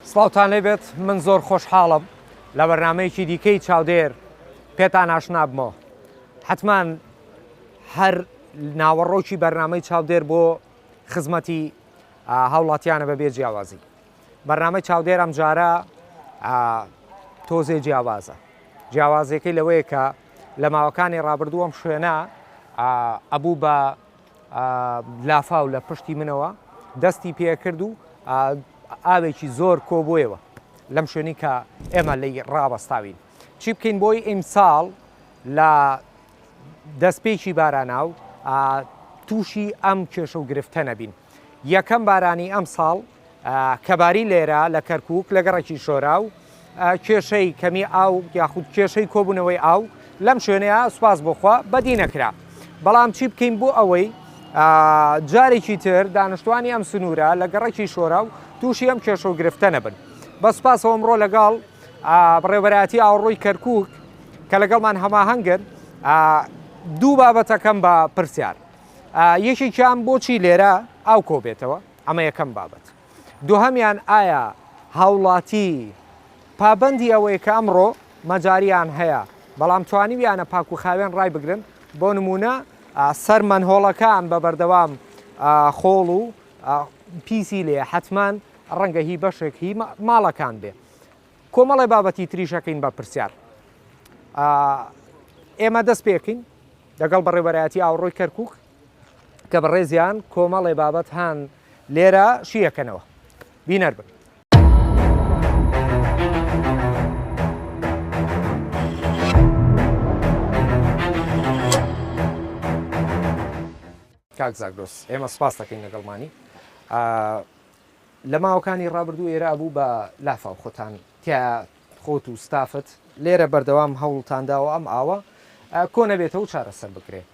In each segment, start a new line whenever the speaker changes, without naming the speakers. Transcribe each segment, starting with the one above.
سڵاوتان لێ بێت من زۆر خۆشحاڵم لە بەرنامەیەکی دیکەی چاودێر پێتان ئاشنابمەوە حتمان هەر ناوەڕۆکی بەرنامەی چاودێر بۆ خزمەتی هاوڵاتیانە بە بێ جیاوازی بەرنامەی چاودێر ئەم جارە تۆزێ جیاوازە جیاوازەکەی لەوەیە کە لە ماوەکانی ڕابردووەم شوێنە ئەبوو بە لافاو لە پشتی منەوە دەستی پێکرد و ئاوێکی زۆر کۆبوویەوە لەم شوێنی کە ئێمە لەی ڕاوەستاوین چی بکەین بۆی ئیمساڵ لە دەستپێکی بارانە و تووشی ئەم کێشە و گرفتە نەبین یەکەم بارانی ئەم ساڵ کەباری لێرە لە کەرکووک لە گەڕەکی شۆرا و کێشەی کەمی ئاو یاخود کێشەی کۆبوونەوەی ئاو لەم شوێنەیە سوپاس بۆخوا بەدی نەکرا بەڵام چی بکەین بۆ ئەوەی جارێکی تر دانیشتوانی ئەم سنوورە لە گەڕەکی شۆرا و تووشی ئەم کێشە و گرفتە نەبن بە سوپاسەوە ئەمڕۆ لەگەڵ بڕێبەراتی ئاوڕۆی کەرکووک کە لەگەڵمان هەماهەنگن دوو بابەتەکەم بە پرسیار یەکێکیان بۆچی لێرە ئاو کۆبێتەوە ئەمە یەکەم بابەت. دوهەمیان ئایا هاوڵاتی پابەندی ئەوەی کە ئەمڕۆ مەجاریان هەیە بەڵام توانیویانە پاک و خاوێن ڕای بگرن بۆ نمونە سەر مەنهۆڵەکان بە بەردەوام خۆڵ و پیسی لێ حتمان ڕەنگە هی بەشێک هی ماڵەکان بێ کۆمەڵی بابەتی تریشەکەین بە پرسیار ئێمە دەست پێکین دەگەڵ بەڕێبەرایەتی ئاوڕۆی کەرکک کە بەڕێزیان کۆمەڵێ بابەت هان لێرە شیەکەنەوە بینەر بن. کاک زاگرۆس ئێمە سپاس دەکەین لەگەڵمانی لە ماوەکانی ڕابردوو ئێرا بوو بە لافا و خۆتان تیا خۆت و ستافت لێرە بەردەوام هەوڵتانداوە ئەم ئاوە کۆ نەبێتەوە چارەسەر بکرێت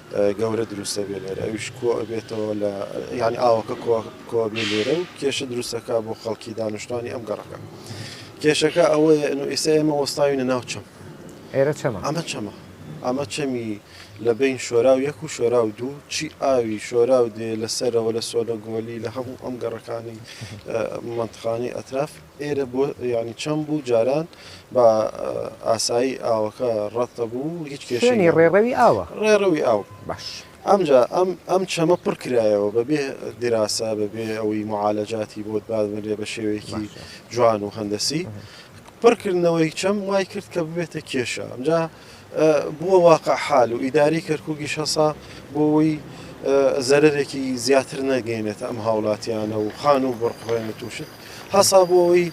گەورە دروستەبێ لێرە ئەویش کۆ ئەبێتەوە لە یانی ئاوەکە کۆبێ لێرە و کێشە دروستەکە بۆ خەڵکی دانیشتوانی ئەم گەڕەکە کێشەکە ئەوەیە ئەو ئێستا ئێمە وەستاوینە ناو چەم ئێرە چەمە
ئەمە چەمە ئەمە
چەمی لە بین شۆرا و یەک و شۆرا و دوو چی ئاوی شۆرا و دێ لەسەرەوە لە سۆنە گۆلی لە هەموو ئەم گەڕەکانی منتخانی ئەتراف ئێرە بۆ یانی چەند بوو جاران بە ئاسایی ئاوەکە ڕەت دەبوو هیچ کێشەی شوێنی نەبوو. ڕێڕەوی ئاوە
ڕێڕەوی ئاو
باش ئەمجا ئەم ئەم چەمە پڕ کرایەوە بەبێ دیراسە بەبێ ئەوەی معالەجاتی بۆت بادرێ بە شێوەیەکی باشە جوان و هەندەسی پڕکردنەوەی چەم وای کرد کە ببێتە کێشە ئەمجا بووە واقع حال و ئیدارەی کەرکووکیش هەسا بۆ ئەوەی زەرەرێکی زیاتر نەگەینێت ئەم هاوڵاتیانە و خان و بڕقڕێنێت و شت هەسا بۆ ئەوەی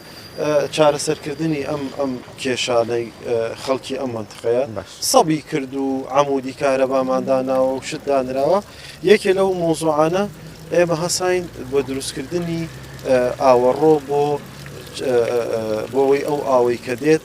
چارەسەرکردنی ئەم ئەم کێشانەی خەڵکی ئەم منتقەیە سەبی کرد و عمودی کارەبامانداناوە و شت دانراوە یەکێ لەو مۆزوعانە ئێمە هەساین بۆ دروستکردنی ئاوەڕۆ بۆ بۆەوەی ئەو ئاوەی کە دێت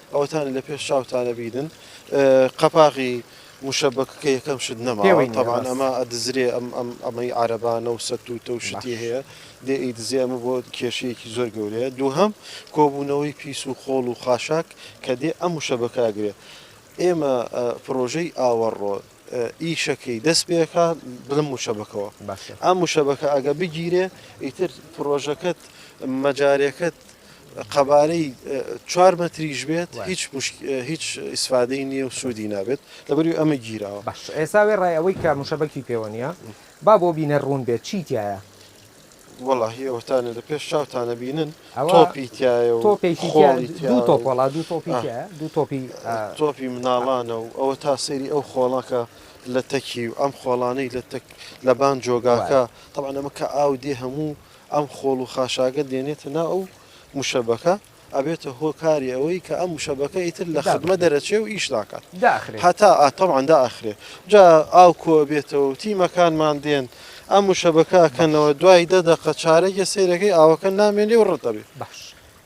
ئەوەتان لە پێش چاوتانە بیدن قەپاغی مشەبک کە یەکەم شت نەماوەی تەوان ئەمە ئەدزرێ ئەم ئەم ئەمەی عربانە و سەت و تە شتی هەیە دێ ئیدزێ ئەمە بۆ کێشەیەکی زۆر گەورەیە دووهم کۆبوونەوەی پیس و خۆڵ و خاشاک کە دێ ئەم مشەبکاگرێ ئێمە پرۆژەی ئاوەڕۆ ئیشەکەی دەست پێەکە بڵم مشەبکەوە ئەم مشەبکە ئەگە بگیرێ ئیتر پرۆژەکەت مەجارەکەت قەبارەی چوار مەتریش بێت هیچ هیچ ئیسفادەی نییە و سوودی نابێت لەبەری ئەمە گیرەوە باش ئێستا وێ ڕای
ئەوەی کە مشەبەکی پێوە نیە با بۆ بینە ڕوون بێت چی تایە وەڵی
ئەوتانە لە پێش چاوتانە بینن تۆپی تایە
و
تۆپێکی دوو
تۆپۆڵا
دوو
تۆپی دوو تۆپی تۆپی
مناڵانە و ئەوە تا سەیری ئەو خۆڵەکە لە تەکی و ئەم خۆڵانەی لە تەک لەبان جۆگاکە تەوانەمە کە ئاو دێ هەموو ئەم خۆڵ و خاشاکە دێنێتە ناو ئەو موشەبەکە ئەبێتە هۆ کاری ئەوەی کە ئەم موشەبەکە ئیتر لە خدمە دەرەچێ و ئیش ناکات هەتا ئاتەواندا ئەخرێ جا ئاو کۆ بێتەوە تیمەکانمان دێن ئەم موشەبەکە کەنەوە دوای دە دەقە چارەگە سیرەکەی ئاوەکە نامێنێ و ڕەت دەبێ باش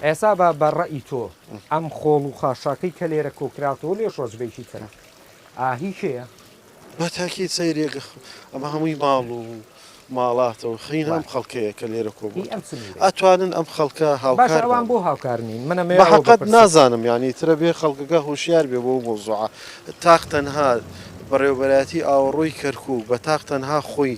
ئێسا
بە بە ڕەئی تۆ ئەم خۆڵ و خاشاکەی کە لێرە کۆکراوەوە لێ شۆزبێکی ترە ئاهی کێە؟ بە تاکید
سەیرێک ئەمە هەمووی ماڵ و ماڵاتە و خوێن ئەم خەڵکەیە کە لێرە کۆبووە، ئەتوانن ئەم خەڵکە هاوکار بن. باشە بۆ هاوکار
نین؟ من ئەمەیان بەپرسم. بەحەقت نازانم
یانی ترە بێ خەڵکەکە هۆشیار بێ بەو مەوزوعە. تاق تەنها بەڕێوەبەرایەتی ئاوەڕۆی کەرکووک بە تاق تەنها خۆی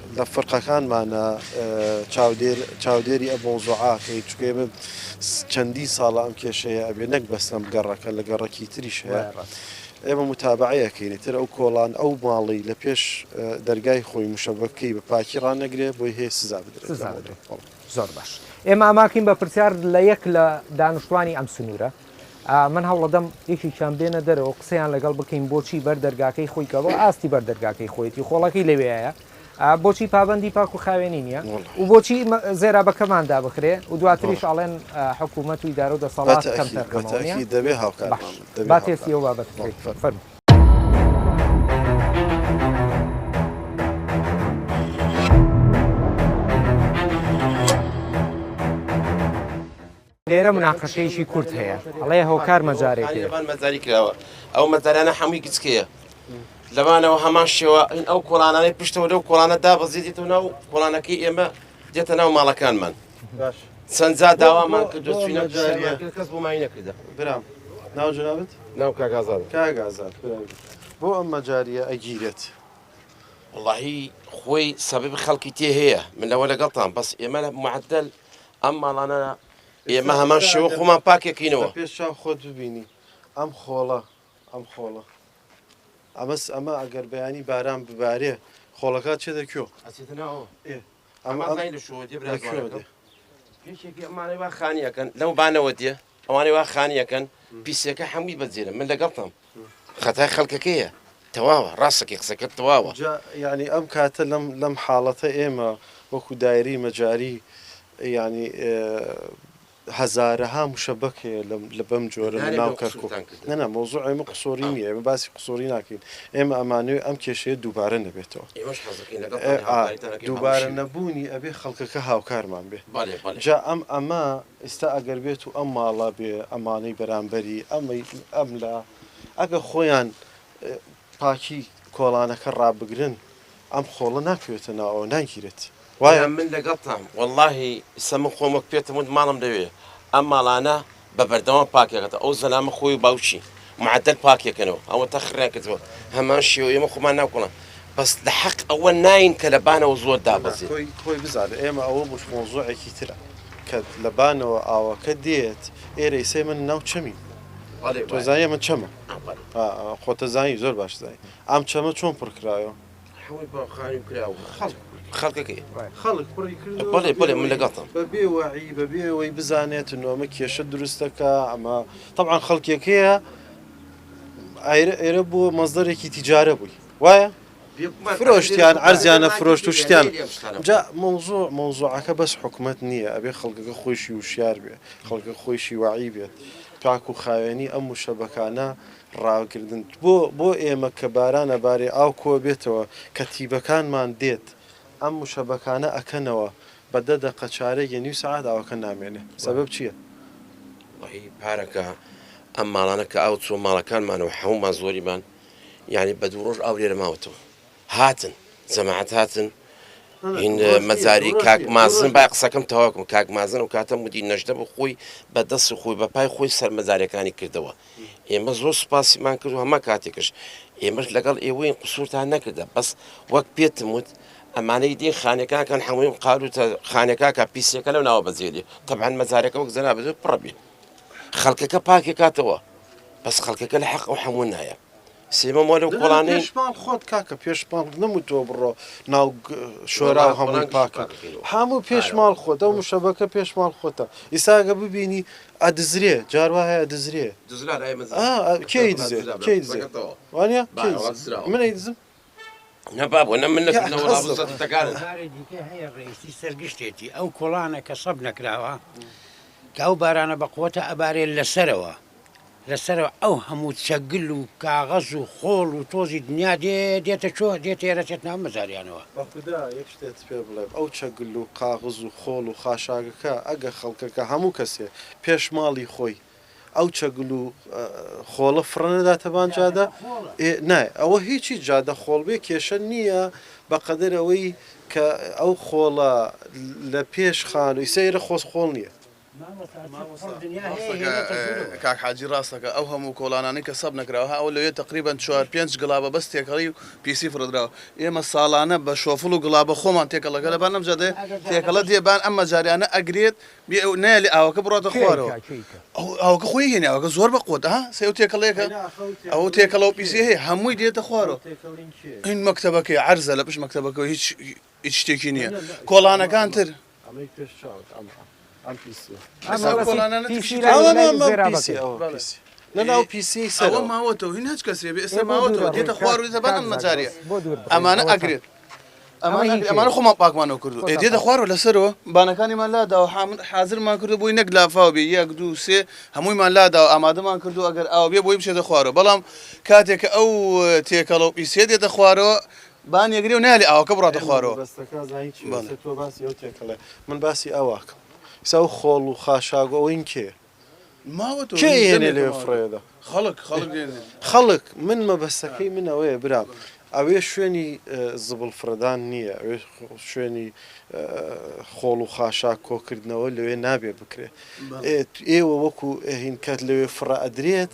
لە فەرقەکانمانە چاودێر چاودێری ئە مەوزوعە کەین چونکە ئێمە چەندین ساڵە ئەم کێشەیە ئەبێ نەک بەس لەم گەڕەکە لە گەڕەکی تریش هەیە وایە ڕاست ئێمە متابعەیەکەینی تر ئەو کۆڵان ئەو ماڵی لە پێش اه، دەرگای خۆی مشەبەکەی بە پاکی ڕانەگرێ بۆی هەیە سزا بدرێت سزا لەمەوبەر دەدرێت بەڵێ. زۆر
باش ئێمە ئاماکەین بە پرسیار لە یەک لە دانوشتوانی ئەم سنورە. من هەوڵەدەم یەکێکیان بێنە دەرەوە و قسەیان لەگەڵ بکەین بۆچی بەر دەرگاکەی خۆی کە بۆ ئاستی بەر دەرگاکەی خۆیەتی خۆڵەکەی لەوێیە بۆچی پابەندی پاک و خاوێنی نییە و بۆچی زێرابەکەمان دابخرێ و دواتریش ئاڵێن حکوومەت و ئیدارە و دەسەڵات کەمتەرخەمەوەنیە دەبێ هاوکار
با تێستی ئەو
بابەت فەرمو لێرە مناقەشەیەکی کورت هەیە ئەڵێ هۆکار مەجارێکێ. لەبان مەجاری کراوە
ئەو مەجارانە هەمووی گچکەیە لەبانەوە هەمان شێوە ئین ئەو کۆڵانانەی پشتەوە لەو کۆڵانە دابەزیێت و ناو کۆڵانەکەی ئێمە دێتە ناو ماڵەکانمان چەندجا داوامان کردو چینە کەس بۆمای نەکردە برام ناو
جنابت ناو کاگازان
کاگازان
بۆ ئەم مەجاریە ئەگیرێت واللهی
خۆی سەبب خەڵکی تێ هەیە من لەوە لەگەڵتان بەس ئێمە لە معدل ئەم ماڵانە ئێمە هەمان شێوە خۆمان پاکێکینەوە پێش چاو خۆت
ببینی ئەم خۆڵە ئەم خۆڵە ئەمەس ئەمە ئەگەر بەیانی باران ببارێ خۆڵەکە چێ دەکوێ
ئەمە خانیەکەن لەو بانەوە دێ ئەوانەی وا خانی ئەکەن پیسەکە حەموی بە جێرە من لەگەڵتم خەتای خەڵکەکەیە تەواوە ڕاستەکەی قسەکە تەواوە یعنی ئەم
کاتە لەم لەم حاڵەتە ئێمە وەکو دایری مەجاری یعنی هەزارەها مشەبەک هەیە لە بەم جۆرە لە ناو کەرکک نەنا مۆزوع ئێمە قسۆری نیە ئێمە باسی قسۆری ناکەین ئێمە ئەمانوێ ئەم کێشەیە دووبارە نەبێتەوە دووبارە نەبوونی ئەبێ خەڵکەکە هاوکارمان بێ جا ئەم ئەمە ئیستا ئەگەر بێت و ئەم ماڵە بێ ئەمانەی بەرامبەری ئەمەی ئەم لا ئەگە خۆیان پاکی کۆڵانەکە ڕابگرن ئەم خۆڵە ناکەوێتە ناوەوە ناگیرێت وایە؟ برا من
لەگەڵتام وەڵاهی ئیستا من خۆم وەک پێتم وت ماڵم لەوێیە ئەم ماڵانە بە بەردەوام پاکەکەتەوە ئەو زەلامە خۆی و باوکی معەدەل پاکیەکەنەوە ئەوە تەخریان کردوە هەمان شێوە ئێمە خۆمان ناکۆڵە بەس لە حەق ئەوە ناین کە لە بانەوە زۆر دابەزی خۆی بزانە ئێمە
ئەوە بوش مۆزۆعێکی ترە کە لە بانەوە ئاوەکە دێت ئێرەی سێ من ناو چەمی تۆزای من چەمە خۆتەزانی زۆر باش زای ئەم چەمە چۆن پڕکراوە حەوت باوخانوو
کراو خەڵک خەڵکەکەی
خەڵک پڕی کرد بەڵێ بڵێ
من لەگەڵتم بە
بێ وعی بە بێ ئەوەی بزانێت نۆمە کێشە دروستەکە ئەمە طبعا خەڵکێکەیە ئایرە ئێرە بۆ مەزدەرێکی تیجارە بووی وایە فرۆشتیان ئەرزیانە فرۆشت و شتیان جا مەوزوع مەوزوعەکە بەس حکومت نییە ئەبێ خەڵکەکە خۆشی وشیار بێ خەڵکە خۆشی وعی بێت تاکو خاوێنی ئەم وشەبەکانە ڕاکردن بۆ بۆ ئێمە کە باران ئەبارێ ئاو کۆ بێتەوە کە تیبەکانمان دێت ئەم مشەبەکانە ئەکەنەوە بە دە دەقە چارەک یە نیو سەعات ئاوەکە نامێنێ سەبەب چیە؟ وەڵاهی
پارەکە ئەم ماڵانە کە ئاو چووە ماڵەکانمانەوە حەموومان زۆریمان یانی بە دوو ڕۆژ ئاو لێرە ماوەتەوە. هاتن جەماعەت هاتن هین مەزاری کاک مازن با قسەکەم تەواکم کاک مازن و کاتە مدی نەشتە بۆ خۆی بە دەست خۆی بە پای خۆی سەر مەزارەکانی کردەوە ئێمە زۆر سوپاسیمان کرد و هەمە کاتێکش ئێمەش لەگەڵ ئێوەی قسوورتان نەکردە بەس وەک پێتم وت ئەمانەی دی خانەکانکان حمویم قالوتە خانەکەکە پیسەکە لەو ناوە بەجێری تەبان مەزارەکە وەک زەنا بەزێت پڕبی خەڵکەکە پاکێکاتەوە بەس خەڵکەکە لە حەق و حەموو نایە سیمە مۆ لەو کۆڵانەی. دەڵێن پێش ماڵ خۆت کاکە
پێش ماڵ نەموتووە بڕۆ ناو شۆراو هەمووی پاکە هەموو پێش ماڵ خۆت ئەو مشەبەکە پێش ماڵ خۆتە ئیستا گە ببینی ئەدزرێ جار وا هەیە ئەدزرێ دزرا ئەی ئا کێی دزێ کێی دزێ دزرا وانە کێی دزرا منەی دزم نە بابۆ
نە من لەکردنەوە یاخەزڵ. ڕابوو سەرتەکانت هۆکاری دیکەی هەیە
ڕێیسی سەر گشتێتی ئەو کوڵانە کە سەب نەکراوە کە ئەو بارانە بە قوەتە ئەبارێ لە سەرەوە لە سەرەوە ئەو هەموو چەگل و کاغەز و خۆڵ و تۆزی دنیا دێ دێتە چۆ دێتە ئێرە چێت ناو مەزاریانەوە. بەخودا یەک شتێت
پێ بڵێم ئەو چەگل و قاغز و خۆڵ و خاشاکەکە ئەگە خەڵکەکە هەموو کەسێ پێش ماڵی خۆی ئەو چەگل و خۆڵە فڕنەداتە بان جادە ئێ نای ئەوە هیچی جادە خۆڵ بێ کێشە نییە بەقەدەر ئەوەی کە ئەو خۆڵە لە پێش خانووی سەیرە خۆس خۆڵ نییە
کاک حاجی ڕاستەکە ئەو هەموو کۆڵانانی کە سەب نەکراوە ئەو لەوێ تقریبان چوار پێنج گڵابە بەس تێکەڵی و پیسی فرەدراوە ئێمە ساڵانە بە شۆفڵ و گڵابە خۆمان تێکەڵەکە لەبان ئەم جادێ تێکەڵە دێبان ئەم مەجاریانە ئەگرێت نایەلی ئاوەکە بڕاتە خوارەوە ئەوکە خۆی هێنێ ئەوکە زۆر بە قوت ها سێ و تێکەڵێکە ئەو تێکەڵەوە پیسێ هەیە هەمووی دێتە خوارەوە این مەکتتەبەکەی عرزە لە پش مەکتتەبەکە هیچ هیچ شتێکی نییە کۆڵانەکان تر
لەناو پیسی سەرەوە ماوەتەوە هین
هەچ کەسێ بێ ئێستا ماوەتەوە دێتە خوارو زەبان ئەم مەجارە ئەمانە ئەگرێت ئەمانە ئەمانە خۆمان پاکمانەوە کردو ئێ دێتە خوارەوە لەسەرەوە بانەکانیمان لاداوە حامل حازرمان کردو بۆی نەک لافاو بێ یەک دوو سێ هەموویمان لاداوە ئامادەمان کردو ئەگەر ئاو بێ بۆی بچێتە خوارەوە بەڵام کاتێک کە ئەو تێکەڵە و پیسێ دێتە خوارەوە بان یەگرێ و نالێ ئاوەکە بڕاتە خوارەوە بەستەکە زانی چی بەڵێ. بەسە تۆ باسی ئەو
تێکەڵێ من باسی ئاواکەم ئیسا و خۆڵ و خاشاک و ئەوین کێ
کێ ئەیهێنێ لەوێ
فڕێ ئەدا؟ خەڵک، من مەبەستەکەی من ئەوەیە برام ئەوێ شوێنی زبڵ فڕێدان نییە، ئەوێ شوێنی خۆڵ و خاشاک کۆکردنەوە لەوێ نابێ بکرێت. ئێوە وەکو هین کات لەوێ فڕە ئەدرێت،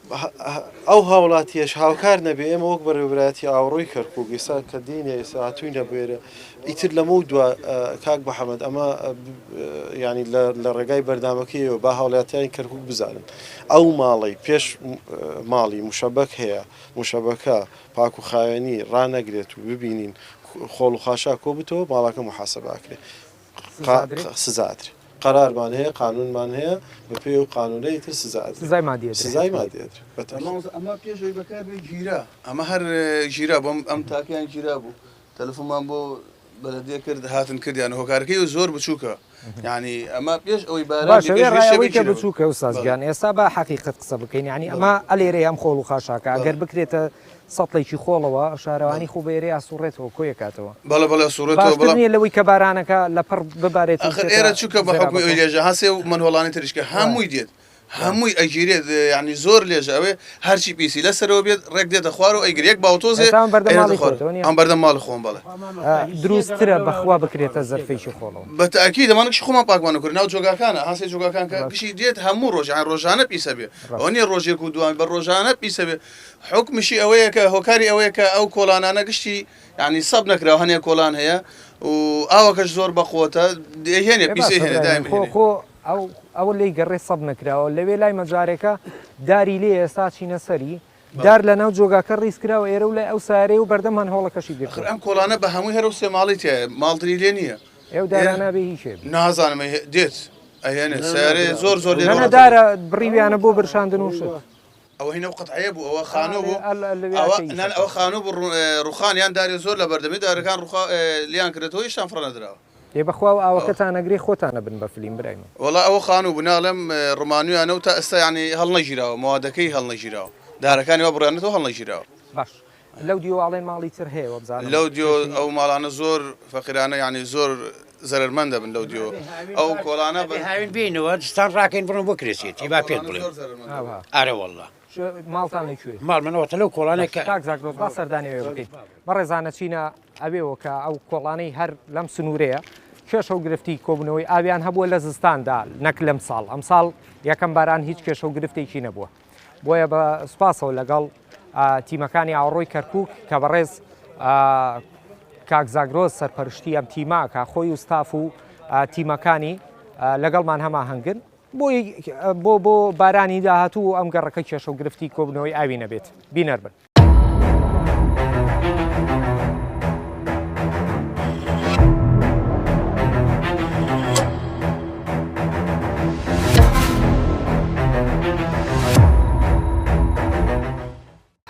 ئەو هاوڵاتیەش هاوکار نەبێ ئێمە وەک بەڕێوەبرایەتی ئاوەڕۆی کەرکوک ئێستا کە دێنێ ئێستا هاتووینە بێرە ئیتر لەمە و دوا کاک بەحەمەد ئەمە ینی لە ڕێگای بەردامەکەیەوە با هاوڵاتیانی کەرکک بزانن ئەو ماڵی پێش ماڵی مشەبەک هەیە مشەبەکە پاک و خاوێنی ڕانەگرێت و ببینین خۆڵ و خاشا کۆ بتەوە ماڵەکە محاسباکرێت سزا ئەدرێ. قەرارمان هەیە، قانوونمان هەیە، بەپێی ئەو قانوونە ئیتر سزا ئەدرێ. سزای مادی ئەدرێ. سزای
مادی ئەدرێ. بە تەئکید. مامۆستا ئەمە
پێش ئەوی بەکار بێ گیرا. ئەمە هەر گیرا بۆ ئەم ئەم تاکەیان گیرا بوو. تەلەفۆنمان بۆ بەلەدیە کرد هاتن کردیانە. هۆکارەکەی زۆر بچووکە. یانی ئەمە پێش ئەوەی باران بێ پێش ویش ئەوەی کە
بچووکە ئوستاز گیان ئێستا با حەقیقەت قسە بکەین یانی ئەمە ئەلێرەی ئەم خۆڵ و خاشاکە ئەگەر بکرێتە سەتڵێکی خۆڵەوە شارەوانی خۆ بە ئێرەی ئاسووڕێتەوە، کۆی ئەکاتەوە. بەڵێ بەڵێ ئەسووڕێتەوە، بەڵام.
باشتر نییە لەوەی کە بارانەکە
لە پڕ ببارێت و بچێتە زێرابەکۆ. ئاخر ئێرە چونکە بە
حوکمی ئەوی لێژە هەسێ و مەنهۆڵانی تریشکە هەمووی دێت، هەمووی ئەگیرێت، یانی زۆر لێژە ئەوێ، هەرچی پیسی لە سەرەوە بێت ڕێک دێتە خوار و ئەیگرێ، یەک باوتۆزێ. ئێستا ئەم بەردە ماڵی خۆتەوە نییە؟ ئەم بەردە ماڵی خۆمە بەڵێ. درووستترە
بە خوا بکرێتە زەرفێکی خۆڵەوە. بە تەئکید ئەمانە کشی
خۆمان پاکمان ئەکرد، ناو جۆگاکانە، هەسێ جۆگاکان کە کشی دێت هەموو ڕۆژێ، یانی ڕۆژانە پیسە بێ، ئەوە نییە ڕۆژێک و دووان، بە ڕۆژانە پیسە بێ. حوکمیشی ئەوەیە کە هۆکاری ئەوەیە کە ئەو کۆڵانانە گشتی یعنی سەب نەکراوە هەنێ کۆڵان هەیە و ئاوەکەش زۆر بەقوتە دێهێنێ بێ باشە پیسێ هێنێ برادەرم، دایم خۆ هێنێ خۆ ئەو
ئەوە لێی گەڕێ سەب نەکراوە لەوێ لای مەجارێکە داری لێ ئێستا چینە سەری بەڵێ دار لەناو جۆگاکە ڕیز کراوە ئێرە و لای ئەو سارەی و بەردەم هەنهۆڵەکەشی ئەخر گرتووە. ئەم کۆڵانە بە هەمووی
هەرەو سێ ماڵی تیایە ماڵتری لێ نییە ئێو ئێرە دارانە بێ
هی کێ بێ؟ نازانم ئەی هێ دێت
ئەهێنێ نا نا سەیارەیە برا زۆر زۆر ئەوە لێ نەنە ڕۆنە دارە
بڕیویانە بۆ برشاندن و شت. ئەوە هی نەو قەتعەیە
بوو ئەوە خانوو بوو ئەوە نان ئەوە خانوو بوو ڕوخان یان دارێ زۆر لە بەردەمی دارەکان ڕوخا لیان کردێتەوە یشتان فڕەنەدراوە ئێ
بەخوا و ئاوەکەتان نەگری خۆتانە بن بە فلیم برای من وڵا ئەوە خانوو بوو
ناڵێم ڕمانویانە و تا ئێستا ینی هەڵنەگیراوە مەوادەکەی هەڵنەگیراوە دارەکانی وا بڕیانێتەوە هەڵنەگیراوە باش.
لەو دیۆ ئاڵێن ماڵی تر هەیە وەبزانم. لەو دیۆ ئەو ماڵانە
زۆر فەقیرانە یانی زۆر زەرەر مەند دەبن لەو دیۆ ئەو کۆڵانە بە هاوین بینەوە
دستان ڕاکەین بڕۆن بۆ کرێسێتی با پێت بڵێ ئارە واللە. ماڵتان لە
کوێ ماڵ منەوە تەلەو کۆڵانێک
کاک زاگرۆس با سەردانی
ئەوێ بکەین بەڕێزانە چینە ئەوێوە کە ئەو کۆڵانەی هەر لەم سنوورەیە کێشە و گرفتی کۆبوونەوەی ئاویان هەبووە لە زستاندا نەک لەم ساڵ ئەم ساڵ یەکەم باران هیچ کێشە و گرفتێکی نەبووە. بۆیە بە سوپاسەوە لەگەڵ تیمەکانی ئاوەڕۆی کەرکک کە بەڕێز کاک زاگرۆز سەرپەرشتی ئەم تیماکە خۆی و ستاف و تیمەکانی لەگەڵمان هەما هەنگن بۆی بۆ بۆ بارانی داهاتوو ئەم گەڕەکە کێشە و گرفتی کۆبنەوەی ئاوی نەبێت بینەر بن.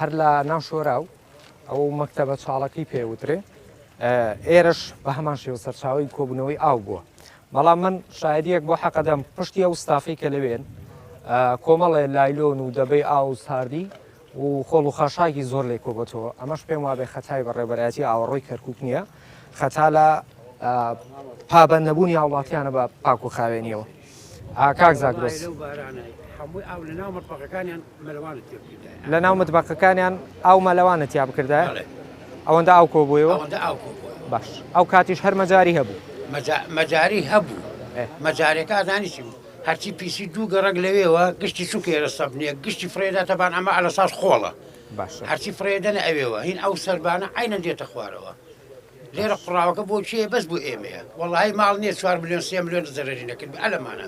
هەر لە ناو شۆراو ئەو مەکتەبە چاڵەکەی پێوترێ ئێرش بە هەمان شێوە سەرچاوی کۆبوونەوەی ئاو بووە بەڵام من شاعریەک بۆ حەقەدەم پشتی ئەو ستافی کە لەوێن کۆمەڵێ لایلۆن و دەبەی ئاو ساردی و خۆڵ و خاشاکی زۆر لێ کۆبۆتەوە، ئەمەش پێم وابێ خەتای بەڕێوبەرایەتی ئاوەڕۆی کەرکوک نیە، خەتا لە پابەند نەبوونی هاوڵاتیانە بە پاک و خاوێنیەوە. کاک زاگرۆس.
لە ناو
متبەقەکانیان ئاو مەلەوانە تیا بکردایە؟ ئەوەندە ئاو کۆبووەوە؟ باش ئەو کاتیش هەر مەجاری هەبوو؟ مەجاری
هەبوو، مەجارەکە ئەزانی چی بوو؟ هەرچی پیسی دوو گەڕەک لەوێوە گشتی چونکە ئێرە سەبنیە گشتی فرێدا تەبان ئەمە ئەلە ساز خۆڵە باشە هەرچی فرێدەنە ئەوێوە هین ئەو سەربانە عینە دێتە خوارەوە لێرە قڕاوەکە بۆ چێ بەس بۆ ئێمەیە وەڵی ماڵ نییە چوار میلیۆن سێ میلیۆن زەرری نەکرد ئەلەمانە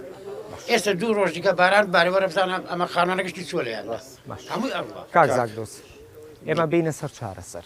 ئێستا دوو ڕۆژ دیکە باران بارەوە رەبزانە ئەمە خانانە گشتی چۆلیان هەمووی ئەڕوە کاک زاک دۆست
ئێمە بینە سەر چارەسەر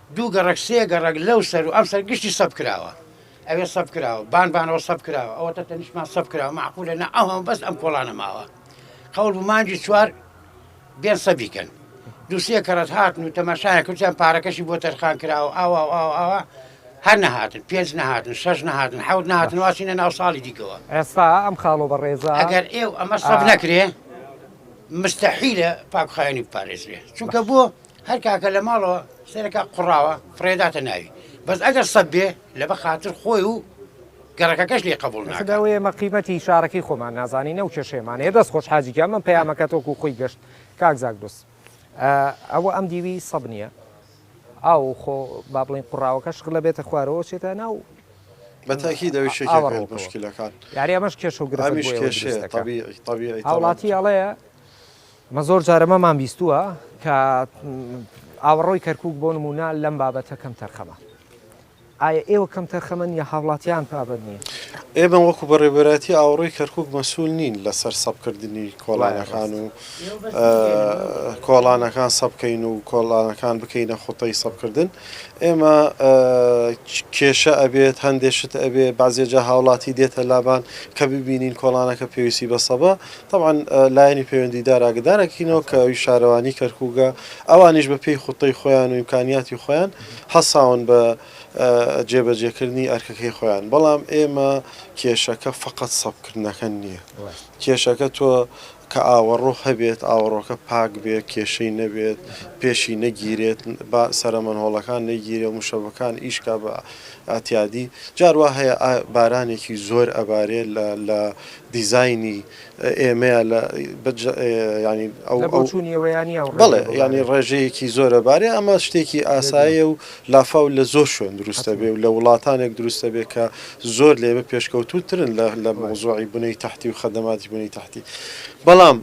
دوو گەڕەک سێ گەڕەک لەو سەر و ئەم سەر گشتی سەف کراوە ئەوێ سەف کراوە بان بانەوە سەف کراوە ئەوەتە تەنیشتمان سەف کراوە مەعقولە نە ئەو هەموو بەس ئەم کۆڵانە ماوە قەول بوو مانگی چوار بێن سەف بیکەن دوو سێ کەڕەت هاتن و تەماشایان کردیان پارەکەشی بۆ تەرخان کراوە ئاوا و ئاوا ئاوا هەر نەهاتن پێنج نەهاتن شەش نەهاتن حەوت نەهاتن واسینە ناو ساڵی دیکەوە ئێستا ئەم خاڵۆ
بەڕێزە ئەگەر ئێو ئەمە سەف
نەکرێ مستحیلە پاکخاوێنی بپارێزرێ چونکە بۆ هەر کاکە لە ماڵەوە سەرەکە قوڕاوە فڕێداتە ناوی بەس ئەگەر سەب بێ لە بە خاتر خۆی و گەڕەکەکەش لێ قبوڵ ناکات. ئەخدا وەیە ئێمە قیمەتی
شارەکەی خۆمان نازانین ئەو کێشەیەمان هەیە دەست خۆش حاجی گیان من پەیامەکەت وەکو خۆی گەشت کاک زاگرۆس ئەوە ئەم دیوی سەب نییە ئاو خۆ با بڵێین قوڕاوەکە شغلە بێتە خوارەوە چێتە ناو بە تاکید
ئەوی شەکێک لە موشکیلەکان یاری ئەمەش کێشە و
گرفت بۆ ئێوە دروست دەکا
هاوڵاتی ئەڵێ
مە زۆر جارە مەمان بیستووە کە ئاوەڕۆی کەرکووک بۆ نموونە لەم بابەتە کەم تەرخەمە. ئایا ئێوە کەم تەرخەمن یا هاوڵاتیان پابەند نین؟ ئێمە وەکو بە
رێبەرایەتی ئاوەڕۆی کەرکووک مەسوول نین لە سەر سەپ کردنی کۆڵانەکان و کۆڵانەکان سەپ کەین و کۆڵانەکان بکەینە خوتەی سەپ کردن. ئێمە کێشە ئەبێت هەندێ شت ئەبێ بازێ جا هاوڵاتی دێتە لابان کە ببینین کۆڵانەکە پێویستی بە سەبە طبعا لایەنی پەیوەندیدار ئاگدارەکەینەوە کە ئەوی شارەوانی کەرکووگە ئەوانیش بە پێی خوتەی خۆیان و ئیمکانیاتی خۆیان هەساون بە جێبەجێکردنی ئەرکەکەی خۆیان بەڵام ئێمە کێشەکە فقط سەبکردنەکە نییە کێشەکە تۆ کە ئاوەڕۆ هەبێت، ئاوەڕۆکە پاک بێت، کێشەی نەبێت، پێشی نەگیرێت، با سەرە مەنهۆڵەکان نەیگیرێ و مشەبەکان ئیش کا بە ئاتیادی. جار وا هەیە ئا بارانێکی زۆر ئەبارێ لە لە دیزاینی ئێمەیە لە بە جە یانی ئەو لە ئەو بۆچوونی ئێوەیە یانی ئەو ڕێژەیە بەڵێ بۆ یانی بارێ؟ ڕێژەیەکی زۆر ئەبارێ ئەمە شتێکی ئاسایە و لافاو لە زۆر شوێن دروست دەبێ و لە وڵاتانێک دروست دەبێ کە زۆر لێبێ پێشکەوتوو ترن لە لە مەوزوعی بنەی تەحتی و خەدەماتی بنەی تەحتی بەڵام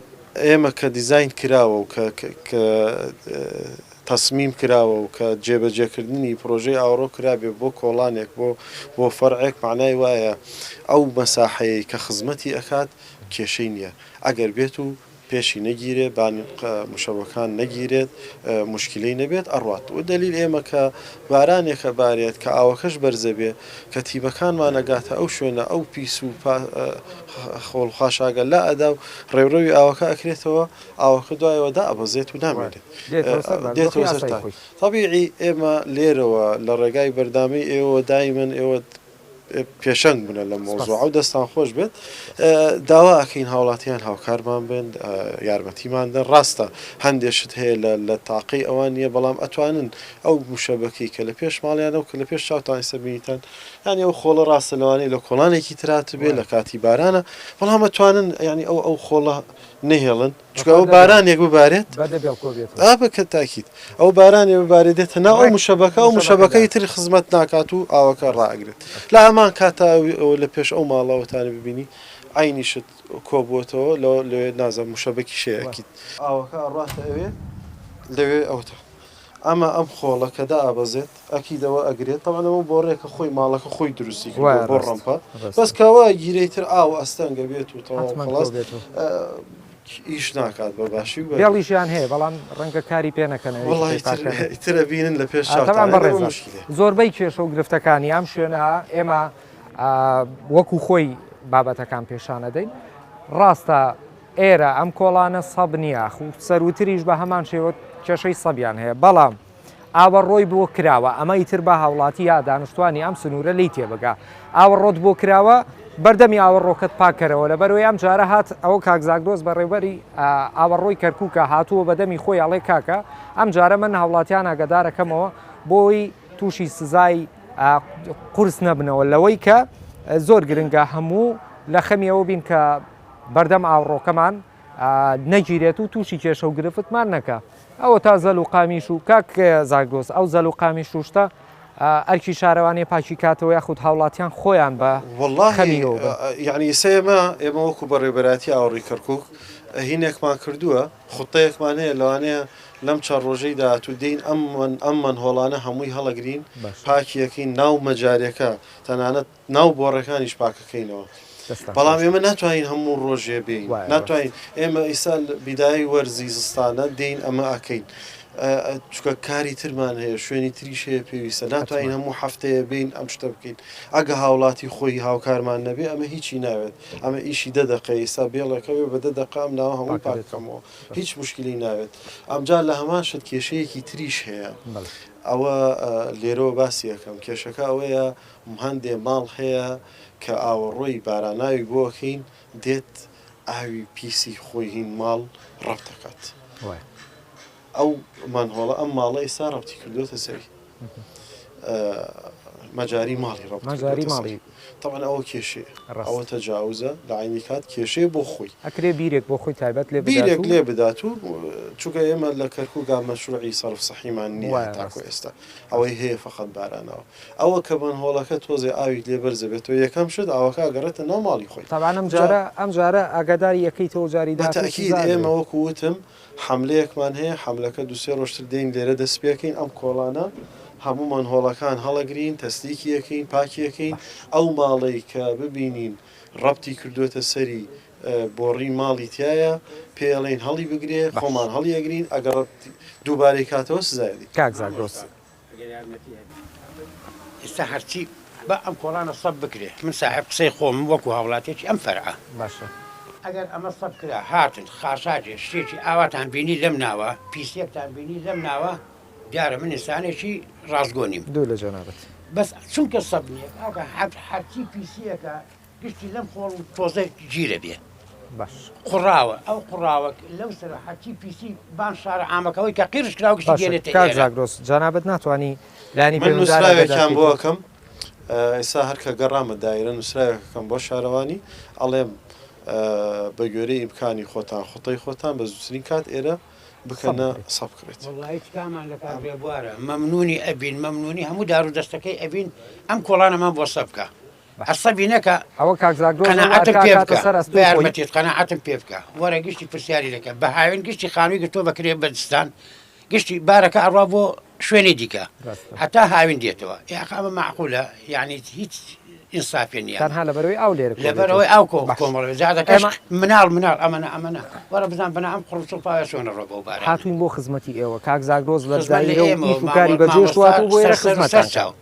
ئێمە کە دیزاین کراوە و کە کە تەسمیم کراوە و کە جێبەجێکردنی پرۆژەی ئاوەڕۆ کرابێ بۆ کۆڵانێک بۆ بۆ فەرعێک مەعنای وایە ئەو مەساحەیەی کە خزمەتی ئەکات کێشەی نییە ئەگەر بێت و پێشی نەگیرێت بان مشەوەکان نەگیرێت مشکلەی نەبێت ئەڕوات وە دەلیل ئێمە کە بارانێک ئەبارێت کە ئاوەکەش بەرزەبێ کە تیمەکانمان ئەگاتە ئەو شوێنە ئەو پیس و خۆڵ خاشاگە لا ئەدا و ڕێوڕەوی ئاوەکە ئەکرێتەوە ئاوەکە دوایەوە دائەبەزێت و نامێنێت دێتەوە سەر تای تەبیعی ئێمە لێرەوە لە ڕێگای بەردامی ئێوە دایمەن ئێوە پێشەنگ بنە لەم مەوزوعە و دەستان خۆش بێت داوا ئەکەین هاوڵاتیان هاوکارمان بن یارمەتیمان دەن ڕاستە هەندێک شت هەیە لە تاقی ئەوان نییە بەڵام ئەتوانن ئەو موشەبەکەی کە لە پێش ماڵیانە و کە لە پێش چاوتان ئێستا بینیتان ینی ئەو خۆڵە ڕاستە لەوانەیە لە کۆڵانێکی ترات بێ لە کاتی بارانە بەڵام ئەتوانن ینی ئەو ئەو خۆڵە نەهێڵن چونکە ئەوە بارانێک ببارێت ئابە کە تاکیت ئەو بارانێ ببارێ دێتە ناو ئەو مشەبەکە ئەو مشەبەکەی تر خزمەت ناکات و ئاوەکە ڕاگرێت لە هەمان کاتاوی ئەوە لە پێش ئەو ماڵەوەتانە ببینی ئاینیشت کۆبووەتەوە لە لەوێ نازە مشەبەکی شەیەکیت ئاوەکە ڕاتە ئەوێ لەوێ ئەوتە ئەمە ئەم خۆڵە کە دائەبەزێت ئەکیدەوە ئەگرێت تەبعەن ئەمە بۆڕێکە خۆی ماڵەکە خۆی دروستی کردوە بۆ ڕەمپە بەس کەوا گیرەی تر ئاو ئەستەنگە بێت و تەواو خڵاس بێت و ئیش ناکات بە باشی و بێڵیشیان هەیە بەڵام
ڕەنگە کاری پێ نەکەن وڵی ترە بینن لە
پێش شتان بەڕێزە زۆربەی
کێشە و گرفتەکانی ئەم شوێنە ئێمە وەکو خۆی بابەتەکان پێشانەدەین ڕاستە ئێرە ئەم کۆڵانە سەب نییە، سەرووتریش بە هەمان شێوە کێشەی سەبیان هەیە، بەڵام ئاوەڕۆی بۆ کراوە، ئەمە ئیتر با هاوڵاتی یا دانشتوانی ئەم سنوورە لێی تێبگا، ئاوەڕۆت بۆ کراوە بەردەمی ئاوەڕۆکەت پاک کەرەوە، لەبەرئەوەی ئەم جارە هات ئەوە کاک زاگرۆس بەڕێوەبەری ئاوەڕۆی کەرکووکە هاتووە بەدەمی خۆی ئەڵێ کاکە ئەم جارە من هاوڵاتیان ئاگادار ئەکەمەوە بۆی تووشی سزای قورس نەبنەوە لەوەی کە زۆر گرنگە هەموو لە خەمی ئەوە بین کە بەردەم ئاوڕۆکەمان نەگیرێت و تووشی کێشە و گرفتمان نەکە ئەوە تا زەل و قامیش و کاک زاگرۆس ئەو زەل و قامیش شوشتە ئەرکی شارەوانی پاکی کاتەوە یاخود هاوڵاتیان خۆیان بە
یعنی سێمە ئێمە وەکو بە ڕێبەراتی ئاوڕی کەرکک هینێکمان کردووە خوتەیەکمان هەیە لەوانەیە لەم چەند ڕۆژەی داهاتوو دین ئەم من ئەم من هۆڵانە هەمووی هەڵەگرین پاکیەکەین ناو مەجارەکە تەنانەت ناو بۆڕەکانیش پاکەکەینەوە بەڵام ئێمە ناتوانین هەموو ڕۆژێ بین ناتوانین ئێمە ئیسا بیدای وەرزی زستانە دین ئەمە ئەکەین چکە کاری ترمان هەیە شوێنی تریش هەیە پێویستە ناتوانین هەموو هەفتەیە بین ئەم شتە بکەین ئەگە هاوڵاتی خۆی هاوکارمان نەبێ ئەمە هیچی ناوێت ئەمە ئیشی دە دەقە ئیسا بێڵەکەوێ بە دە دەقام ناوە هەموو پاکەکەمەوە هیچ مشکلی ناوێت ئەمجار لە هەمان شت کێشەیەکی تریش هەیە ئەوە لێرەوە باسیەکەم کێشەکە ئەوەیە هەندێ ماڵ هەیە کە ئاوەڕۆی باراناوی بۆکین دێت ئاوی پیسی خۆی هین ماڵ ڕەپ دەکات ئەو مانهۆڵە ئەم ماڵە ئێستا ڕەپتی کردوێتە سەری مەجاری ماڵی ڕەپ مەجاری ماڵی تەوان ئەوە کێشێ ڕەوە تەجاوزە لە عینی کات کێشێ بۆ خۆی ئەکرێ بیرێک بۆ خۆی
تایبەت لێ بیرێک لێ بدات
و چووکە ئێمە لە کەرکووگا مەشروعی سەرف سەحیمان نیوە تاکو ئێستا ئەوەی هەیە فقط بارانەوە ئەوە کە مەنهۆڵەکە تۆزێ ئاوی لێ بەرز دەبێتەوە یەکەم شت ئاوەکە ئەگەڕێتە ناو ماڵی خۆی. تەبعەن ئەم جا جارە ئەم
جارە ئاگاداری ئەکەیتەوە جاری بە داهاتوو تەئکید سزا ئێمە ئەدرێ. وەکو
وتم حەملەیەکمان هەیە حەملەکە دوو سێ ڕۆژ تر دێین لێرە دەست پێ کەین ئەم کۆڵانە هەموو مەنهۆڵەکان هەڵەگرین تەسلیکی ئەکەین پاکی ئەکەین باش. ئەو ماڵەی کە ببینین ڕەپتی کردووەتە سەری بۆڕی ماڵی تیایە پێی ئەڵێین هەڵی بگرێ باش. خۆمان هەڵی ئەگرین ئەگەڕ دووبارەی کاتەوە سزای ئەدەین. کاک زاگرۆس
ئەگەر
یارمەتی هەبێ ئێستا هەرچی با ئەم کۆڵانە سەپ بکرێ من ساحێب قسەی خۆمم وەکو هاوڵاتیەکی ئەم فەرعە باشە.
ئەگەر ئەمە
سەپ کرا هاتن خاشاکێ شتێکی ئاواتان بینی لەم ناوە پیسێکتان بینی لەم ناوە دیارە من ئینسانێکی ڕاستگۆ نیم. دوو لە جەنابت.
بەس چونکە
سەپ نیە کاکە هەرچی پیسیەکە گشتی لەم خۆڵ و تۆزە گیرە بێ
قڕاوە ئەو
قڕاوە لەو سەر حەچی پیسی بان شارە ئامەکەەوەی کە قیرش کرا گشتگەێتەگرۆس جانابەت
ناتوانانی لانی نووسراوێکیان
بۆکەم ئێستا هەرکە گەڕامە دایرە نووسراوێکەکەم بۆ شارەوانی ئەڵێم بە گوێرەی ئیمکانی خۆتان خۆتەی خۆتان بە زووترین کات ئێرە بکەنە سەب کرێت
مەمنونی ئەبین مەمنونی هەموو دار و دەستەکەی ئەبین ئەم کۆڵانەمان بۆ سەبکە عەسەبی نەکە ئەوە کاک زاگرۆس ئەو
قەناعەتم ئەرکە پێ ئەکاتە بکە سەر بە ئەستۆی خۆی.
یارمەتیت قەناعەتم پێ بکە وەرە گشتی پرسیاری لەکە بە هاوێن گشتی خانووی گرتووە بە کرێ بە دزستان گشتی بارەکە ئەڕوا بۆ شوێنی دیکە ڕاستە. هەتا هاوین دێتەوە یاخ ئەمە مەعقولە یانی هیچ ئینسافێ نییە ئەمە تەنها لەبەرەوەی ئاو لێرە کۆدێتەوە.
لەبەرەوەی ئاو کۆ باشە. کۆمەڵێ
جا دەکەش ئێمە- مناڵ مناڵ ئەمەنە ئەمەنە وەرە بزان بەنا ئەم قڕ و چڵپاوە چۆنە ڕۆ بەو بارانە هاتووین بۆ خزمەتی ئێوە
کاک زاگرۆس لە خزمەت لە دایرە و ئێمەوە، ئیش و کاری مامۆ- بەجێشتوات و مامۆستا بۆ ئێرە سەر سەر و سەر خزمەتتان چاو. کرد.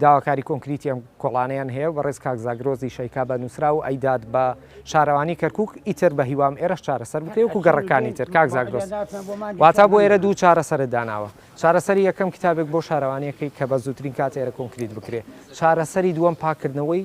داواکاری کۆنکریتی ئەم کۆڵانەیان هەیە و بەڕێز کاک زاگرۆزی شەیکا بە نووسراو ئەیدات بە شارەوانی کەرکووک، ئیتر بە هیوام ئێرەش چارەسەر بکرێ وەکوو گەڕەکانی تر. کاک زاگرۆس، واتا بۆ ئێرە دوو چارەسەرت داناوە، چارەسەری یەکەم کتابێک بۆ شارەوانییەکەی کە بە زووترین کات ئێرە کۆنکریت بکرێ، چارەسەری دووەم پاککردنەوەی،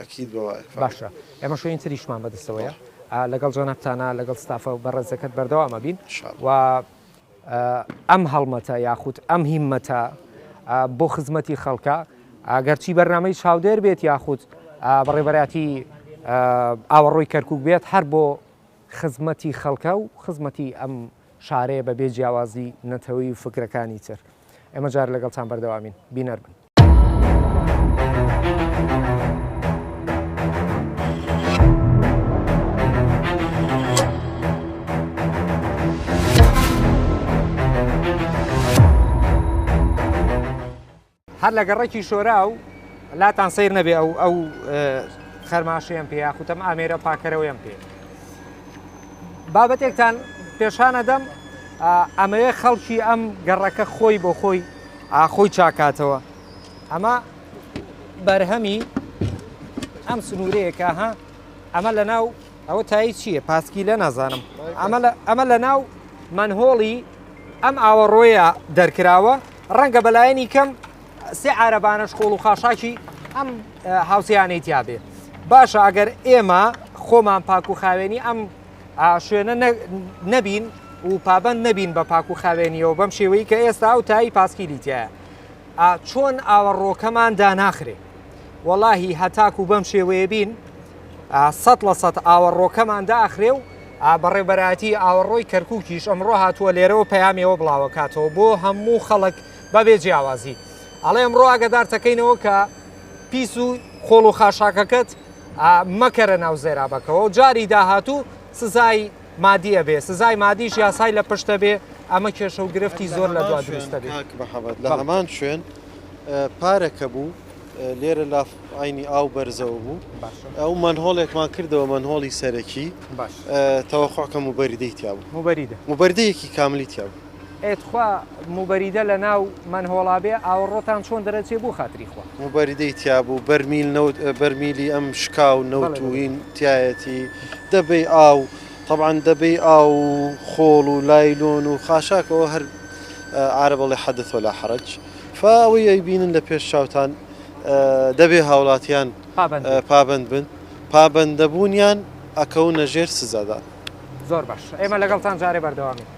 اکید بە وایە فەقەت. باشە ئێمە شوێنی
تریشمان بە دەستەوەیە بەڵێ. لەگەڵ جەنابتانا لەگەڵ ستافە بەڕێزەکەت بەردەوام ئەبین ان شاء و ە ئەم هەڵمەتە یاخود ئەم هیمەتە بۆ خزمەتی خەڵکە گەر چی بەرنامەی چاودێر بێت یاخود بە ڕێبەراتی ئاوەڕۆی کەرکوک بێت هەر بۆ خزمەتی خەڵکە و خزمەتی ئەم شارەیە بە بێ جیاوازی نەتەوەی و فکرەکانی تر ئێمە جار لەگەڵتان بەردەوامین بینەر بن. هەر لە گەڕێکی شۆرا و لاتان سیر نەبێ ئەو ئەو خەرماشیان پێ یاخوتم ئامێرە پاکەرەوەیان پێ بابەتێکتان پێشانە دەم ئەمەوێ خەڵکی ئەم گەڕەکە خۆی بۆ خۆی خۆی چاکاتەوە ئەمە بەرهەمی ئەم سنوورەیە کە ها ئەمە لە ناو ئەوە تایی چییە پاسکی لە نازانم ئەمە لە ناو منهۆڵی ئەم ئاوەڕۆیە دەرکراوە ڕەنگە بەلایەنی کەم سێ عربانە شکۆڵ و خاشاکی ئەم هاوسیانەی تیاابێ باشە ئەگەر ئێمە خۆمان پاک و خاوێنی ئەم ئاشوێنە نەبین و پابەند نەبین بە پاک و خاوێنیەوە بەم شێوەی کە ئێستا ئەو تایی پاسکیلی تایە چۆن ئاوەڕۆکەمان داناخرێ وەڵاهی هەتاک و بەم شێوەیە بین سە لە سە ئاوەڕۆکەمان داخرێ و بەڕێبەراتی ئاوەڕۆی کەرکووکیش ئەمڕۆ هاتووە لێرەوە پەیامەوە بڵاوەکاتەوە بۆ هەموو خەڵک بەبێ جیاوازی ئەڵێ ئەمڕۆ ئاگدارتەکەینەوە کە پیس و خۆڵ و خاشاکەکەت مەکەرە ناو زێرابەکەوە و جاری داهاتوو سزای مادی ئەبێ سزای مادیش یاسای لە پشت ئەبێ ئەمە کێشە و گرفتی زۆر لە دوا دروست ئەبێ. کاک محمد لە هەمان
شوێن پارە کە بوو لێرە لاف عەینی ئاو بەرزەوە بوو ئەو مەنهۆڵێکمان کردەوە مەنهۆڵی سەرەکی تەوەقوع کەم و بەریدەی تیا بوو موبەریدە موبەردەیەکی کاملی تیا بوو ئێ تخوا
موبەریدە لە ناو مەنهۆڵا بێ ئاوەڕۆتان چۆن دەرەچێ بۆ خاتری خوا. موبەریدەی تیابوو
بەرمیل نەوت بەرمیلی ئەم شکاو نەوت و هین تیایەتی دەبەی ئاو تەبعەن دەبەی ئاو و خۆڵ و لایلۆن و خاشاک ئەوە هەر عارەب ئەڵێ حدث ولا حرج فا ئەوەی ئەیبینن لە پێش چاوتان دەبێ هاوڵاتیان پابەند بن پابەندەبوونیان ئەکەونە ژێر سزادان. زۆر باش
ئێمە لەگەڵتان جارێ بەردەوامین.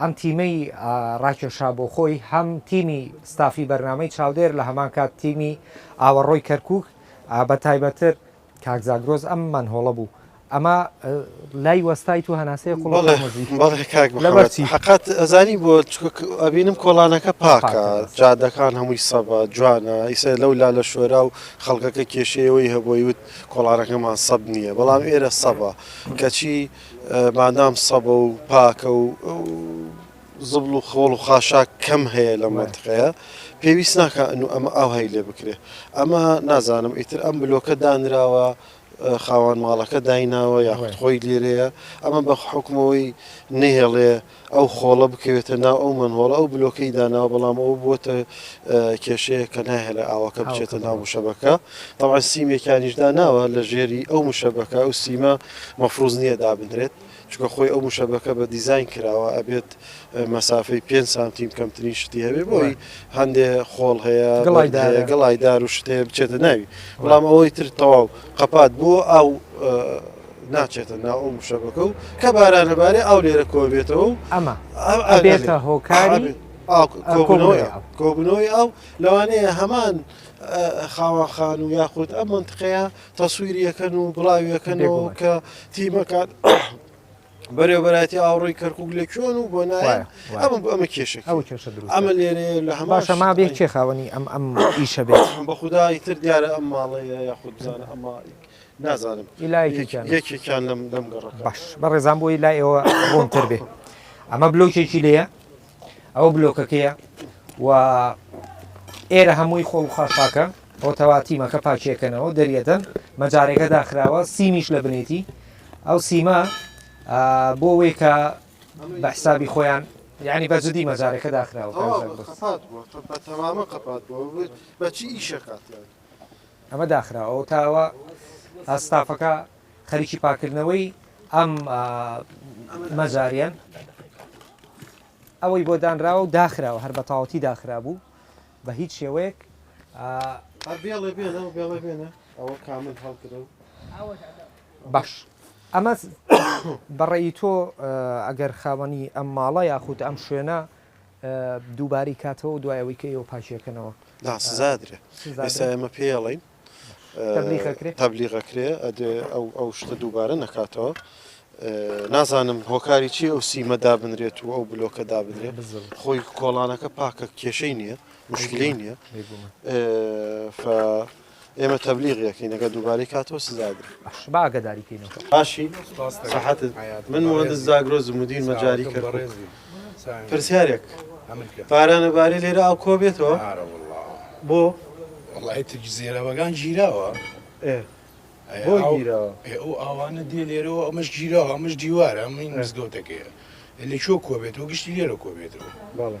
ئەم تیمەی ڕاکێشا بۆ خۆی هەم تیمی ستافی بەرنامەی چاودێر لە هەمان کات تیمی ئاوەڕۆی کەرکووک بە تایبەتتر کاک زاگرۆس ئەم مەنهۆڵە بوو ئەمە لای وەستایت و هەناسەی قوڵ بەڵێ مزی بەڵێ کاک لەبەر محەممەد چی؟
حەقەت ئەزانی بۆ چونکە ئەبینم کۆڵانەکە پاکە پاکە، بەس. جادەکان هەمووی سەبە جوانە ئیسە لەو لا لە شۆرا و خەڵکەکە کێشەی ئەوەی هەبووی وت کۆڵانەکەمان سەب نییە بەڵام ئێرە سەبە کەچی مادام سەبە و پاکە و زبڵ و خۆڵ و خاشاک کەم هەیە لە مەنتقەیە پێویست ناکە ئەن و ئەمە ئاوهایی لێ بکرێ ئەمە نازانم ئیتر ئەم بلۆکە دانراوە خاوان ماڵەکە دایناوە یاخود خۆی لێرەیە ئەمە بە حکومەوەی نەهێڵێ ئەو خۆڵە بکەوێتە ناو ئەو مەنهۆڵە، ئەو بلۆکەی داناوە، بەڵام ئەوە بووەتە کێشەیەک کە ناهێڵێ ئاوەکە بچێتە ناو موشەبەکە، تەبعەن سیمێکیانیش داناوە لە ژێری ئەو موشەبەکە، ئەو سیمە مەفروز نییە دابنرێت، چونکە خۆی ئەو موشەبەکە بە دیزاین کراوە ئەبێت مەسافەی پێنج سانتیم کەمترین شتی هەبێت، بۆیە هەندێ خۆڵ هەیە گڵایدار و شت هەیە بچێتە ناوی، بەڵام ئەوەی تر تەواو قەپات بووە ئاو ناچێتە ناو ئەو مشەبەکە و کە بارانە بارێ ئاو لێرە کۆبێتەوە و ئەمە
ئەبێتە هۆکاری کۆبنەوەی
ئەو لەوانەیە هەمان خاوەخان و یاخود ئەم منتقەیە تەسویریەکەن و بڵاویەکەنەوە کە تیمەکان بەرێوبەتی ئاوڕی کەرکک لە کوێن و بۆ نایە ئەمە ئەمە کێش ئەمە لێرێ لە هەماشە ما بێ کێ خاوەنی
ئەم ئەم ئیشە بێت بە خدای تر
دیارە ئەم ماڵەیە یاخود بزانە ئەمە نازانم ئی لایەک یەکیان یەکێکیان لەم لەم گەڕەکە باش بەڕێزان بۆی
لای ئێوە ڕوونتر بێ ئەمە بلۆکێکی لێیە ئەوە بلۆکەکەیە و ئێرە هەمووی خۆڵ و خاشاکە ئەوتەوا تیمەکە پاکیەکەنەوە دەریەدەن مەجارێکە داخراوە سیمیش لە بنێتی ئەو سیمە آه، بۆ وەی کە بە حسابی خۆیان یعنی بە جدی مەجارێکە داخراوە تەواو کاژێر بەس. قەپات بووە قە- بە
تەمامە قەپات بووە بەچی ئیشەکات یان ئەمە
داخراوە و تا ئەوە ستافەکە خەریکی پاکردنەوەی ئەم مەجاریان ئەوەی بۆ دانراوە و داخراوە هەر بە تاوەتی داخرابوو بە هیچ شێوەیەک
بێڵێ بێنە و بێڵێ بێنە ئەوە کامل هەڵکرە و
باش ئەمە بەڕێی تۆ ئەگەر خاوەنی ئەم ماڵە یاخود ئەم شوێنە دووبارەی کاتەوەو دوای ئەوەی کە ئێوە پاکیەکەنەوە. نا سزا ئەدرێ
ئێستا ئێمە پێی ئەڵێین تەبلیغ ئەکرێ ئەدرێ ئەو ئەو شتە دووبارە نەکاتەوە نازانم هۆکاری چی ئەو سیمە دابنرێت و ئەو بلۆکە دابنرێ خۆی کۆڵانەکە پاکە کێشەی نییە مشکلی نییە ئێمە تەبلیغی ئەکەین ئەگەر دووبارەی کاتەوە سزا ئەدرێ. باشە با ئاگاداری کەینەوە.
باشی
سەحەتت من موهەندس زاگرۆزم مدیر مەجاری کەرکوک پرسیارێک باران ئەبارێ لێرە ئاو کۆ بێتەوە بۆ وەڵای
ترج زێرەبەگان گیراوە ئێ
بۆ گیراوە ئێ ئەو ئاوانە
دێ لێرەوە ئەمەش گیراوە ئەمەش دیوارە ئەمەی مزگەوتەکەیە لە کوێ کۆ بێتەوە گشتی لێرە کۆ بێتەوە بەڵێ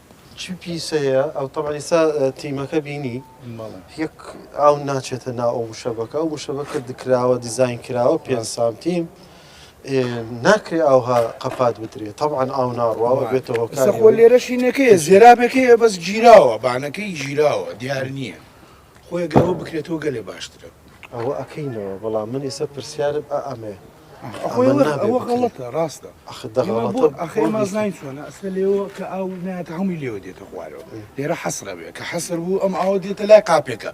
چ پیسەیە ئەو تەبعەن ئیسا تیمەکە بینی یەک ئاو ناچێتە نا ئەو مشەبەکە ئەو مشەبەکە دکراوە دیزین کراوە پێ سانتیم ناکرێ ئاوها قەپات بدرێت تەعاان ئاو ناڕواوە بێتەوە کەسەخۆ لێرەشینەکەی
زێرابەکەی بەس گیراوە بانەکەی گیراوە دیار نییە. خۆێ گەوە بکرێتەوە گەلێ باشترە. ئەوە ئەکەینەوە
بەڵام من ئیسە پرسیارم ئە ئەمێ. ئەخۆ ئەوە
ئەوە غەڵەتە ڕاستە ئەخە دە ئێمە بۆ غەڵەتە ئەخە بۆ ئێمە بیسی. زین چۆنە ئەسە لێوە کە ئاو نایەتە هەمووی لێوە دێتە خوارەوە لێرە حەسرە بێ کە حەسر بوو ئەم ئاوە دێتە لای قاپێکە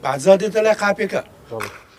بەعزا دێتە لای قاپێکە بەڵێ.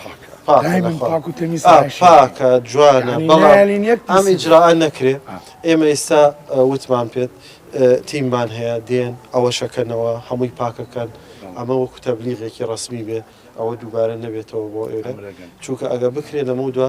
پاکە پاکە جوانە ئەم ئیجرا نەکرێ ئێمە ئێستا وتمان پێت تیممان هەیە دێن ئەوەشەکەنەوە هەمووی پاکەکەن ئەمە وەکو تەبلیغێکی ڕسمی بێ ئەوە دووبارە نەبێتەوە بۆ ئێرە چونکە ئەگە بکرێت لەمە دو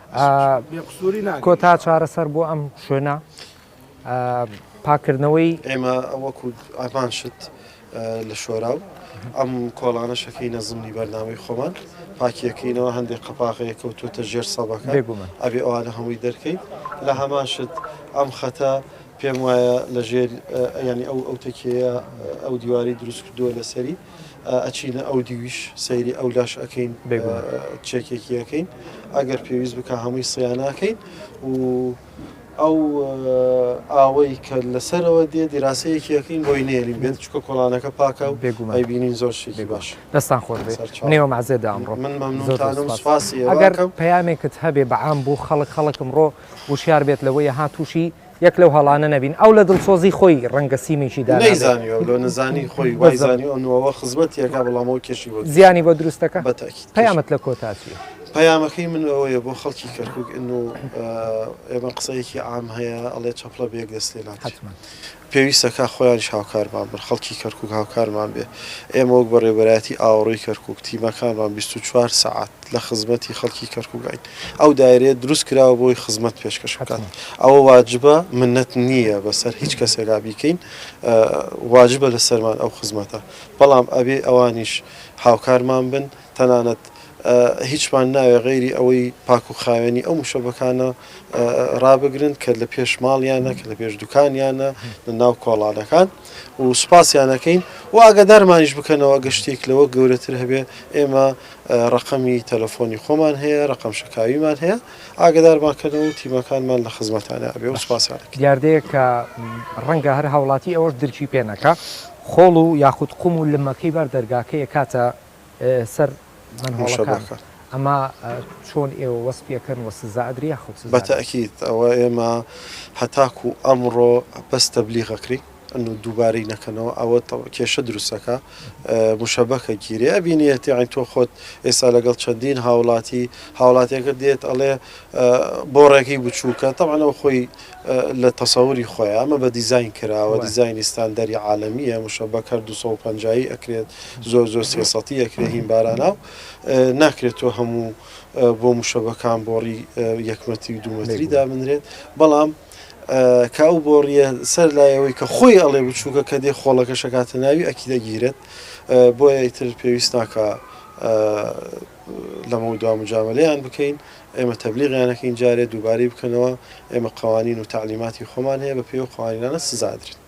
کۆتا چارەسەر بۆ
ئەم شوێنە پاکردنەوەی ئێمە وەکو
ئامان شت لە شۆراو ئەم کۆڵانە شەکەی نەزمنی بەرنامەی خۆمان پاکیەکەینەوە هەندێک قەپاغەیە کەوتوتە ژێر سەبەکە ئەبێ ئەوانە هەمووی دەرکەین لە هەمان شت ئەم خەتە پێم وایە لە ژێر ینی ئەو ئەو تەکیەیە ئەو دیواری دروستکردووە لەسەری ئەچینە ئەو دیویش سەیری ئەو لاش ئەکەین چێکێکیەکەین ئەگەر پێویست بکە هەمووی سیانناکەین و ئەو ئاوەی کە لەسەرەوە دێ دیراسەیەکیەکەین بۆی نێرین بێت چکە کۆڵانەکە پاکە و بێگومای بینین زۆر شێکی باش دەستان خۆر
نێوە مازێدا ئەمڕۆ من مەمنونسپاسی
ئەگەر پەیامێکت
هەبێ بەعام بوو خەڵک خەڵکم ڕۆ وشار بێت لەوەی هاتوشی یەک لەو هەڵانە نەبین ئەو لە دڵسۆزی خۆی ڕەنگە سیمێکی دا نەیزانیەوە لۆ نەزانی
خۆی وای زانی ئەو نوەوە خزمەتی ئەکا بەڵام ئەو کێشی بۆ زیانی بۆ دروست دەکا بە
تاکید پەیامت لە
کۆتا چیە؟
پەیامەکەی من
ئەوەیە بۆ خەڵکی کەرکک ئن و ئێمە قسەیەکی ئام هەیە ئەڵێ چەپڵە بێک دەست لێ ناکات پێویستەکە خۆیانش هاوکارمان بن خەڵکی کەرکک هاوکارمان بێ ئێمە وەک بەڕێبەرایەتی ئاوڕی کەرکک تیمەکانمان 24 سعات لە خزمەتی خەڵکی کەرکوکاین. ئەو دایرەیە دروست کراوە بۆی خزمەت پێشکەش بکات. ئەوە واجبە منەت نییە بە سەر هیچ کەسێکا بیکەین. واجبە لە سەرمان ئەو خزمەتە. بەڵام ئەبێ ئەوانیش هاوکارمان بن. تەنانەت هیچمان ناوێ غەیری ئەوەی پاک و خاوێنی ئەو مشەبەکانە ڕابگرن کە لە پێش ماڵیانە، کە لە پێش دوکانیانە، لە ناو کۆڵانەکان و سوپاسیان ئەکەین و ئاگادارمانیش بکەنەوە ئەگەر شتێک لەوە گەورەتر هەبێ ئێمە ڕەقەمی تەلەفۆنی خۆمان هەیە، ڕەقەم شەکاویمان هەیە، ئاگەدارمان کەنەوە و تیمەکانمان لە خزمەتانە ئەبێ و سوپاسیان ئەکەین. دیاردەیەک کە
ڕەنگە هەر هاوڵاتی ئەوەش درکی پێ نەکا، خۆڵ و یاخود قوم و لمەکەی بەر دەرگاکە ئەکاتە سەر مەنهۆڵەکان، ئەمە چۆن ئێوە وەسفی ئەکەن و سزا ئەدرێ یاخود سزا نادرێ؟ بە تەئکید ئەوە
ئێمە هەتاکوو ئەمڕۆ بەس تەبلیغ ئەکرێین. ئەن و دووبارەی نەکەنەوە ئەوە کێشە دروست ئەکا مشەبە کە گیرێ ئەبینێت یاعین تۆ خۆت ئێستا لەگەڵ چەندین هاوڵاتی هاوڵاتیەکە دێت ئەڵێ بۆڕێکی بچووکە تەوانەوە خۆی لە تەسەوری خۆی ئەمە بە دیزین کراوە دیزینی ستاندەری عاالمیە مشەبە کە 250 ئەکرێت زۆر زۆر سێسەتی ئەکرێ هین بارانە و ناکرێت تۆ هەموو بۆ مشەبەکان بۆڕی یەکمەتی و دوومەتری دابنرێت بەڵام کە ئەو بۆڕیە سەر لایەوەی کە خۆی ئەڵێ بچووکە کە دێ خۆڵەکە شکاتە ناوی ئەکی دەگیرێت بۆیە ئیتر پێویست ناکە لەمە دوا مجاملەیان بکەین ئێمە تەبلیغیانەکەین جارێ دووبارەی بکەنەوە ئێمە قوانین و تعلیماتی خۆمان هەیە بە پێی و قوانینانە سزادرێت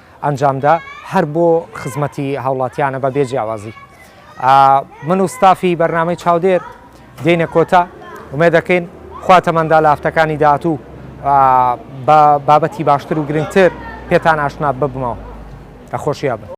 ئەنجامدا هەر بۆ خزمەتی هاوڵاتیانە بە بێ جیاوازی من و ستافی بەرنامەی چاودێر دێنە کۆتا ومێ دەکەین خواتەمەندا لە هەفتەکانی داهاتوو بە بابەتی باشتر و گرنگتر پێتان ئاشنا ببمەوە ئەخۆشییا بن.